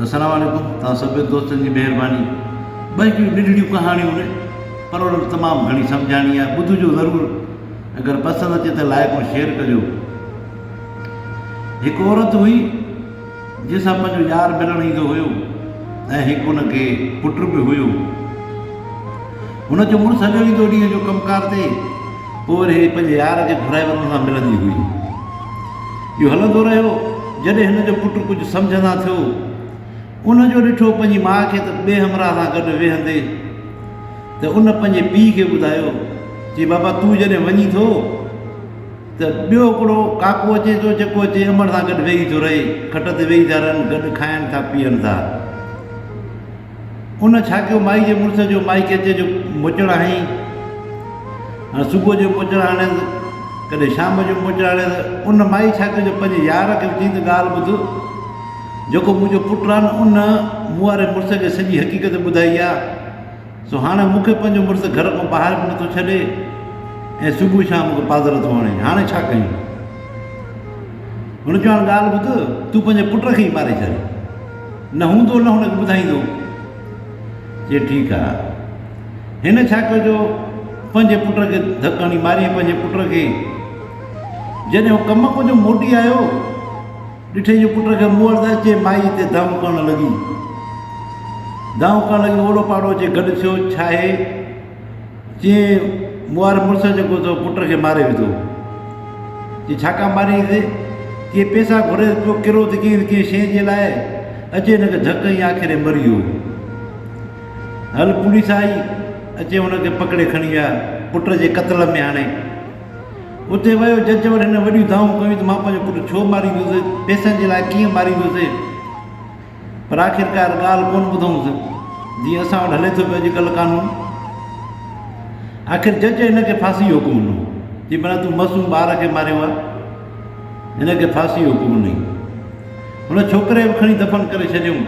السلام عليڪم توهان سڀني دوستن جي مهرباني ٻه هڪڙيون ننڍڙيون ڪهاڻيون آهن پر انهن ۾ تمام گهڻي سمجهاڻي آهي ٻڌجو ضرور اگر پسند اچي ته لائڪ ۽ شيئر ڪجو هڪ عورت هئي جنهن سان پنهنجو يار ملڻ ايندو هيو ۽ هڪ ان کي پٽ به هيو هن جو مڙس هليو ويندو ڏينهن جو ڪم ڪار تي پوء وري هي پنهنجي يار کي گهرائي وطن سان ملندي هئي. اهو هلندو رهيو جڏهن هن جو پٽ ڪجهه سمجهه سان ٿيو. ان جو ڏٺو پنهنجي ماء کي ته ٻئي همراهه سان گڏ ويهندي ته ان پنهنجي پيء کي ٻڌايو چي بابا تون جڏهن وڃين ٿو ته ٻيو هڪڙو ڪاڪو اچي ٿو جيڪو اچي امڙ سان گڏ ويهي ٿو رهي کٽ تي ويهي ٿا رهن گڏ کائن ٿا پيئن ٿا. ان ڇا ڪيو مائي جي مڙس جو مائي چيچي جو موچڙ هنئي. هاڻي صبح جو موچڙ هڻيس ڪڏهن شام جو موچڙ هڻيس ان مائي ڇا ڪيو جو پنهنجي يار کي به چيائين ته ڳالهه ٻڌ جيڪو منهنجو پٽ آهي نه ان مون واري مڙس کي سڄي حقيقت ٻڌائي آهي سو هاڻي مون کي پنهنجو مڙس گهر کان ٻاهر به نٿو ڇڏي ۽ صبح شام مون کي پاڌر ٿو هڻي هاڻي ڇا ڪيون. هن چيو هاڻي ڳالهه ٻڌ تون پنهنجي پٽ کي ئي ماري ڇڏ. نه هوندو نه هن کي ٻڌائيندو. چي ٺيڪ آ. هن ڇا ڪيو جو پنهنجي پٽ کي ڌڪ هڻي ماريئين پنهنجي پٽ کي. جڏهن هو ڪم ڪجهه موٽي آيو ڏٺئي جو پٽ کي موڙ ته اچي مائي تي دانهون ڪرڻ لڳي. دانهون ڪرڻ لڳي اوڙو پاڙو اچي گڏ ٿيو ڇا هي. چيائين، مون واري مڙس جيڪو تو پٽ کي ماري وڌو. چيائين، ڇا ڪا ماريس؟ چيائين، پيسا گهري ته پيو ڪرو ته ڪنهن نه ڪنهن شيء جي لاء، اچي هن کي ڌڪ هنئي آخر هي مري ويو. هل پوليس آئي، اچي هن کي پڪڙي کڻي ويا، پٽ جي قتل ۾ هاڻي. اتي ويو جج وٽ هن وڏيون دانهون ڪيون ته مان پنهنجو پٽ ڇو ماريندس، پيسن جي لاء ڪيئن ماريندس. پر آخرڪار ڳالهه ڪونه ٻڌئونس جيئن اسان وٽ هلي ٿو پيو اڄڪلهه قانون. آخر جج هن کي ڦاسي جو حڪم ڏنو. چي ڀلا تون معصوم ٻار کي ماريو آ. هن کي ڦاسي جو حڪم ڏنئين. هن ڇوڪري به کڻي دفن ڪري ڇڏيئون.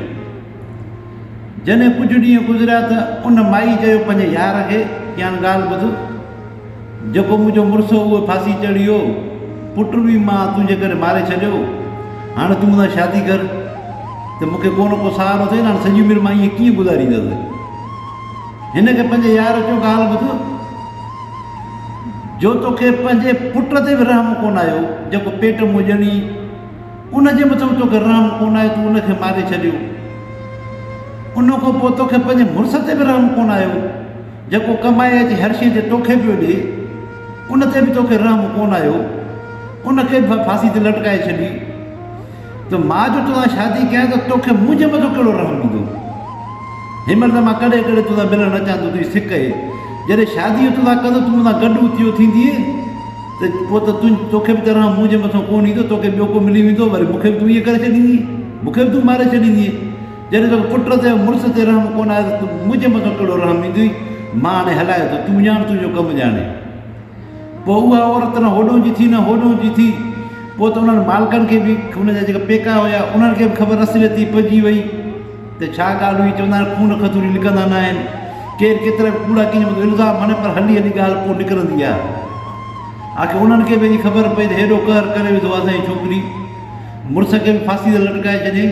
جڏهن ڪجهه ڏينهن گذريا ته ان مائي چيو پنهنجي يار کي چيائين ڳالهه ٻڌ. جيڪو منهنجو مڙس هو اهو ڦاسي چڙهي ويو. پٽ به مان تنهنجي ڪري ماري ڇڏيو. هاڻ تون مون سان شادي ڪر ته مون کي ڪو نه ڪو سهارو ٿئي نه. هاڻ سڄي عمر مان ائين ڪيئن گذاريندس. هن کي پنهنجي يار چيو ڳالهه ٻڌ جو توکي پنهنجي پٽ تي به رحم ڪونه آيو جيڪو پيٽ مون ڄڻي ان جي مٿان به توکي رحم ڪونه آيو تون ان کي ماري ڇڏيو. ان کان پوء توکي پنهنجي مڙس تي به رحم ڪونه آيو. جيڪو ڪمائي اچي هر شيء جي توکي پيو ڏي، ان تي به توکي رحم ڪونه آيو، ان کي به ڦاسي تي لٽڪائي ڇڏي ته مان جو توسان شادي ڪيان ته توکي منهنجي مٿو ڪهڙو رحم ايندو؟ هينمهل ته مان ڪڏهن ڪڏهن توسان ملڻ اچان ٿو تنهنجي سڪ اهي، جڏهن شادي جو توسان ڪندس تون مونسان گڏ اتيو ٿيندينء ته پوء ته توکي به ته رحم منهنجي مٿو ڪونه ايندو، توکي ٻيو ڪو ملي ويندو، وري مونکي به تون ائين ڪري ڇڏيندينء، مونکي به تون ماري ڇڏيندينء. جڏهن توکي پٽ تي ۽ مڙس تي رحم ڪونه آهي ته منهن جي مٿان ڪهڙو رحم ايندوئي؟ مان هاڻي هلائي ٿو، تون ڄاڻ تنهنجو ڪم ڄاڻي. پوء اها عورت نه هوڏهون جي ٿي نه هوڏهون جي ٿي. پوء ته انهن مالڪن کي به، هن جا جيڪا پيڪا هيا، انهن کي به خبر اصليتي پئجي وئي ته ڇا ڳالهه هئي. چوندا آهن خون کٿوري لڪندا نه آهن. ڪير ڪيترا به ڪوڙا ڪنهن جي مٿان الزام هڻي پر هلي هلي ڳالهه پوء نڪرندي آهي. آخر انهن کي به اڄ خبر پئي ته هيڏو قهر ڪري وڌو آهي سائين ڇوڪري مڙس کي به ڦاسي تي لٽڪائي ڇڏيائين.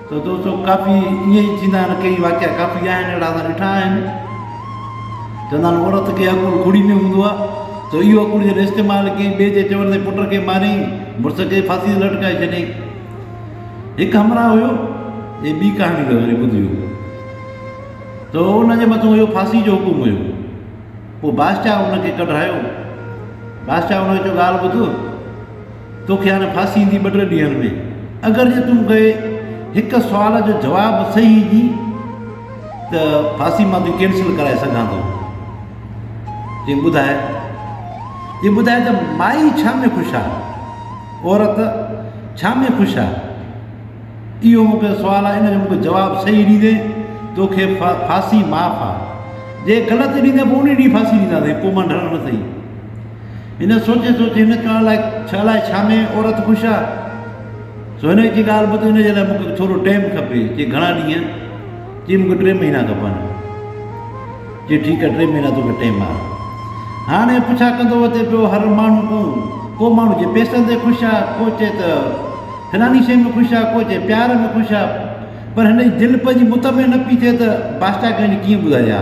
ته دوستو ڪافي ائين ئي ٿيندا آهن ڪيئي واقعا ڪافي آهن اهڙا اسان ڏٺا آهن چوندا آهن عورت کي عقل ڪڙي ۾ هوندو آهي سو اهو عقل جڏهن استعمال ڪيئي ٻئي جي چوڻ تي پٽ کي ماريائين مڙس کي ڦاسي تي لٽڪائي ڇڏيائين هڪ همراهه هيو هي ٻي ڪهاڻي اٿو وري ٻڌجو ته ان جي مٿو هيو ڦاسي جو حڪم هيو پوء بادشاهه ان کي ڪڍرايو بادشاهه ان کي چيو ڳالهه ٻڌ توکي هاڻي ڦاسي ايندي ٻه ٽي ڏينهن ۾ اگر جي تون مونکي هڪ سوال جو جواب صحيح ڏي ته ڦاسي مان تون ڪينسل ڪرائي سگهان ٿو جي ٻڌاء جي ٻڌاء ته مائي ڇا ۾ خوش آهي عورت ڇا ۾ خوش آهي اهو مونکي سوال آهي ان جو مونکي جواب صحيح ڏيندي توکي ڦاسي معاف آهي جي غلط ڏيندي پوء ان ڏينهن ڦاسي ڏينداسي پوء مان ڍرڻ نه سهي هن سوچي سوچي هن ڪان لاء ڇا لاء ڇا ۾ عورت خوش آ سو هن جي ڳالهه ٻڌ هن جي لاء مون کي ٿورو ٽيم کپي چي گهڻا ڏينهن چي مون کي ٽي مهينا کپن چي ٺيڪ آ ٽي مهينا توکي ٽيم آ هاڻي پڇا ڪندو اچي پيو هر ماڻهو ڪو ڪو ماڻهو چي پيسن تي خوش آ ڪو چي ته فلاني شيء ۾ خوش آ ڪو چي پيار ۾ خوش آ پر هن جي دل پنهنجي مطمئن نه پي ٿئي ته بادشاهه کي وڃي ڪيئن ٻڌائي ها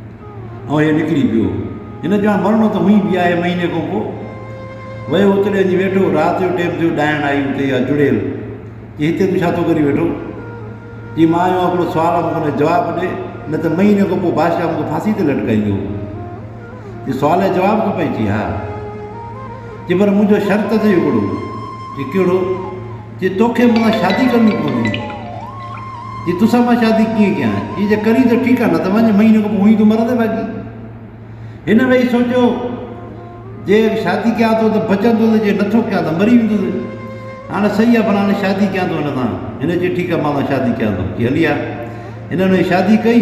۽ هيء نڪري پيو. هن چيو، هاڻ مرڻو ته هونئين به آهي. مهيني کان پوء ويو، اتي ڏينهن جي ويٺو. رات جو ٽيم ٿيو، ڏائڻ آئي اتي اها چڙيل، چي، هتي تون ڇا ٿو ڪري ويٺو؟ چي، مان آيو آهيان هڪڙو سوال آهي، مون کي ان جو جواب ڏي، نه ته مهيني کان پوء بادشاهه مون کي ڦاسي تي لٽڪائيندو. چي، سوال ۽ جواب کپئي؟ چي، ها. چي، پر منهنجو شرط اٿئي هڪڙو. چي، ڪهڙو؟ جي توکي مون سان شادي ڪرڻي پوندي جي توسان مان شادي ڪيئن ڪيان چي جي ڪرين ته ٺيڪ آ نه ته وڃ مھيني کان پوء ھونئين تون مرندين باقي ھن ويھي سوچيو جي شادي ڪيان ٿو ته بچندو ته جي نٿو ڪيان ته مري ويندو سي ھاڻ سھي آ ڀلا ھاڻي شادي ڪيان ٿو ھن سان ھن چيو ٺيڪ آ مان سان شادي ڪيان ٿو چي ھلي آ ھنن ويھي شادي ڪئي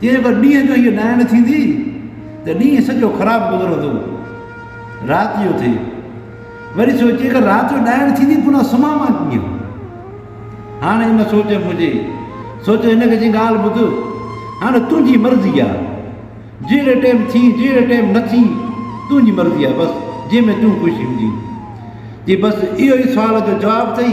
تنهن پر ڏينهن جو هيء ڏائڻ ٿيندي ته ڏينهن سڄو خراب گذرندو. رات جو ٿئي. وري سوچي اگر رات جو ڏائڻ ٿيندي پنهان سمهان مان ڪيئن؟ هاڻ ان سوچ ۾ هجي. سوچ هن کي چي ڳالهه ٻڌ. هاڻ تنهنجي مرضي آ. جهڙي ٽيم ٿي جهڙي ٽيم نه ٿي تنهنجي مرضي آ بس جنهن ۾ تون خوش هوندين. چي بس اهو ئي سوال جو جواب ٿئي.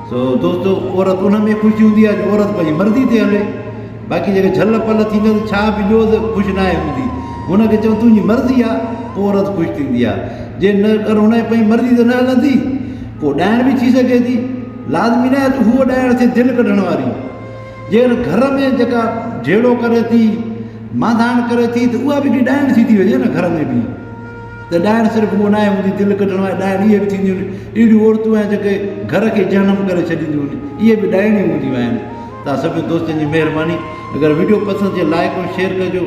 سو دوستو عورت ان ۾ خوش هوندي آهي جو عورت پنهنجي مرضي تي هلي باقي جيڪي جهل پل ٿيندي آهي ڇا به ڏيو ته خوش ناهي هوندي هن کي چئو تنهنجي مرضي آهي پوء عورت خوش ٿيندي آهي جي نه اگر هن جي پنهنجي مرضي تي نه هلندي پوء ڏائڻ به ٿي سگهي ٿي لازمي ناهي ته هو ڏائڻ ٿي دل ڪڍڻ واري جي گهر ۾ جيڪا جهيڙو ڪري ٿي مانڌاڻ ڪري ٿي ته اها به هڪڙي ڏائڻ ٿي ٿي وڃي نه گهر ۾ به ته ڏائڻ صرف اهو ناهي هوندي دل ڪڍڻ واري ڏائڻ اهي به ٿينديون آهن اهڙيون عورتون آهن جيڪي گهر کي جهنم ڪري ڇڏينديون آهن اهي به ڏائڻيون هونديون آهن تان سڀني دوستن جي مهرباني اگر وڊيو پسند ٿئي لائڪ ۽ شيئر ڪجو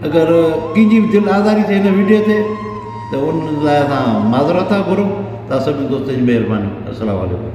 اگر ڪنهنجي به دل آزاري ٿئي هن وڊيو تي ته ان لاء اسان معذرت ٿا گهرون تان سڀني دوستن جي مهرباني السلام عليڪم